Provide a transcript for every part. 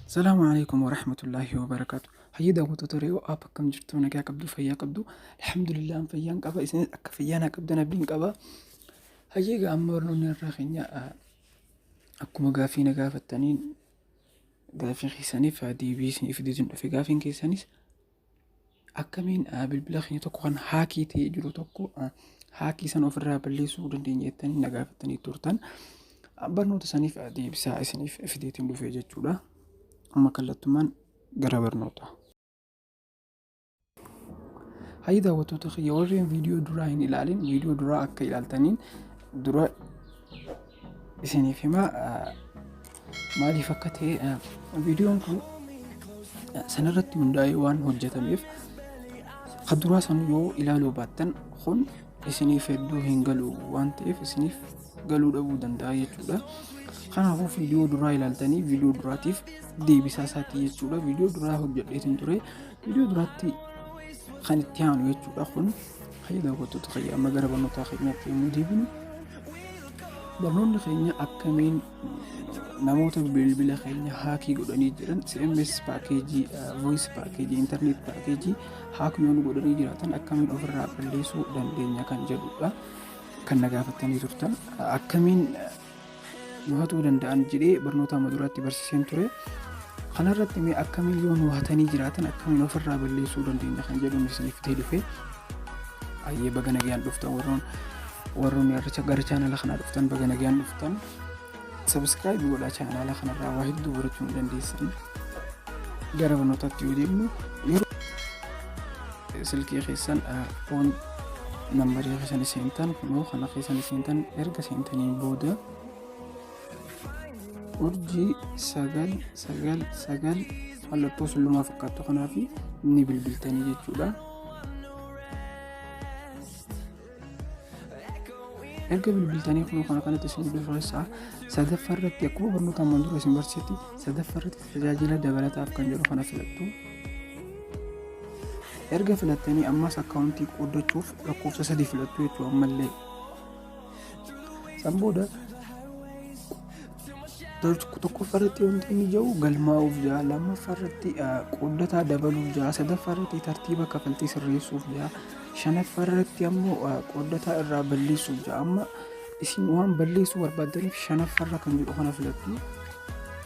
Salaamu alaikum wa rahmatullahi wa barakaatu. Hayyii daawwattoota Re'oo app akkam jirtu nagaa qabdu fayyaa qabdu. Alhamdulillah fayyaan qaba isinis akka fayyaa naa qabdan abdiin qaba. Hayyii egaa amma barnoonni irraa keenya ah, akkuma gaaffii na gaafattaniin gaaffii keessaniif ah, deebii isiniif deebiin dhufe gaaffiin keessanis akkamiin bilbila keenya tokko kan haakii ta'ee jiru tokko haakii sana ofirraa balleessuu dandeenya jettanii na gaafattanii turtan. Barnoota saniif deebisaa isiniif fideetiin dhufee jechuudha. Amma kallattumaan gara barnoota. Hayyi daawwattoota kiyya warreen viidiyoo duraa hin ilaalin viidiyoo duraa akka ilaaltaniin dura isiniif himaa maaliif akka ta'e viidiyoon kun sanarratti hundaa'ee waan hojjetameef kan duraa san yoo ilaaluu baattan kun isiniif hedduu hin galu waan ta'eef isiniif galuu dhabuu danda'a jechuudha. Kanaafuu viidiyoo duraa ilaaltanii viidiyoo duraatiif deebisaa isaatii jechuudha. Viidiyoo duraa hojjedheetiin ture. Viidiyoo duraatti kan itti aanu jechuudha kun Hayya daawwattoota kiyya amma gara barnootaa keenyaatti yommuu deebinu barnoonni keenya akkamiin namoota bilbila keenya haakii godhanii jiran CMS paakeejii, voice paakeejii, internet paakeejii haakii yoon godhanii jiraatan akkamiin ofirraa balleessuu dandeenya kan jedhudha. Kan na gaafattanii turtan akkamiin nu hatuu danda'an jedhee barnoota amma duraatti barsiiseen ture. Kanarratti mee akkamiin yoo nu hatanii jiraatan akkamiin ofirraa balleessuu dandeenya kan jedhuun isiniif ta'e dhufe. Ayyee baga nagaan dhuftan warroon warroon irra gara chaanala kanaa dhuftan baga nagaan dhuftan. Sabiskiraayib godhaa chaanala kanarraa waa hedduu barachuu ni dandeessan. Gara barnootaatti yoo deemnu yeroo silkii keessan foon nambarii keessan seentan kunoo kana keessan seentan erga seentaniin booda urjii sagal sagal sagal mallattoo sullumaa fakkaattu kanaaf ni bilbiltanii jechuudha. erga bilbiltanii kunoo kana kanatti isin bilbilfassaa sadaffaa irratti akkuma barnoota ammaan dura isin barsiisetti sadaffaa irratti Tajaajila dabalataaf kan jedhu kana filattu. Erga filattanii ammas akkaawuntii qooddachuuf lakkoofsa sadii filattu jechuudha ammallee. San booda tokkoffaa irratti wanti inni jiru galmaa'uuf jira lammaffaa irratti qooddataa dabaluuf jira sadaffaa irratti tartiiba kafaltii sirreessuuf jira shanaffaa irratti ammoo qooddataa irraa balleessuuf jira amma isin waan balleessuu barbaadaniif shanaffaa irra kan jedhu kana filattu.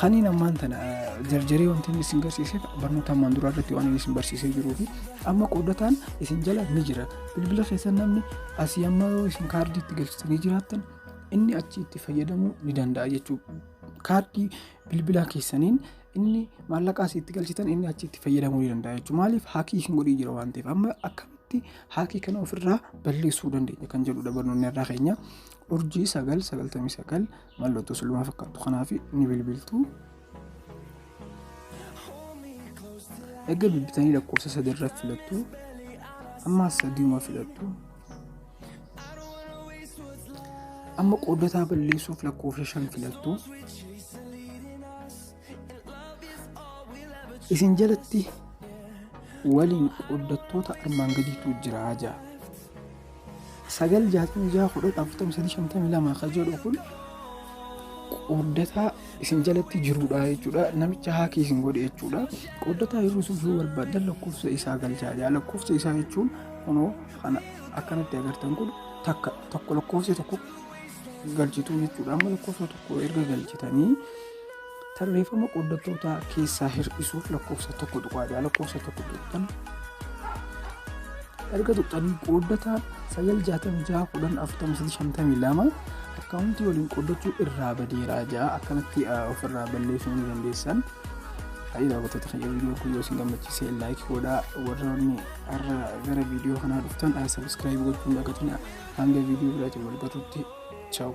Kaniin ammaan tana jarjaree wanti inni isin garsiiseef barnoota ammaan duraa irratti waan inni isin barsiisee jiruu fi amma qoodataan isin jala ni jira. Bilbila keessan namni asii amma yoo isin kaardii itti galchitanii jiraattan inni achi itti fayyadamuu ni danda'a jechuudha. Kaardii bilbilaa keessaniin inni maallaqaa itti galchitan inni achi itti fayyadamuu ni danda'a jechuudha. Maaliif haakii isin godhii jira waan ta'eef amma akkamitti haakii kana ofirraa balleessuu dandeenya kan jedhudha barnoonni irraa keenya. Urjii sagal sagaltamii sagal Mallattoo suluma fakkaattu kanaaf ni bilbiltu. Erga bilbiltanii lakkoofsa sadii irra filattu. Ammaas sadiima filattu. Amma qooddataa balleessuuf lakkoofsa shan filattu. Isin jalatti waliin qooddattoota armaan gadiitu jira ja'a. Sagal jaatamii ja'a kudhan afurtamii sadii shantamii lama kan jedhu kun qooddataa isin jalatti jirudha jechuudha. Namicha haakii isin godhe jechuudha. Qooddataa hir'isuuf yoo barbaadan lakkoofsa isaa galchaa jira. Lakkoofsa isaa jechuun kunoo kana akkanatti agartan kun takka tokko lakkoofsi tokko galchituu jechuudha. Amma lakkoofsa tokko erga galchitanii Tarreeffama qooddattootaa keessaa hir'isuuf lakkoofsa tokko tuqaa ja'a lakkoofsa tokko tuqxan erga tuqxanii qooddataa sagal jaatamii ja'a kudhan afurtamii sadii shantamii lama akkaawuntii waliin qooddachuu irraa badeeraa ja'a akkanatti ofirraa balleessuu ni dandeessan. Faayidaa gootota kan viidiyoo kun yoo isin gammachiise laayik godhaa warroonni har'a gara viidiyoo kanaa dhuftan sabiskiraayib gochuun dagatina hanga viidiyoo biraatiin wal garrutti chaawu.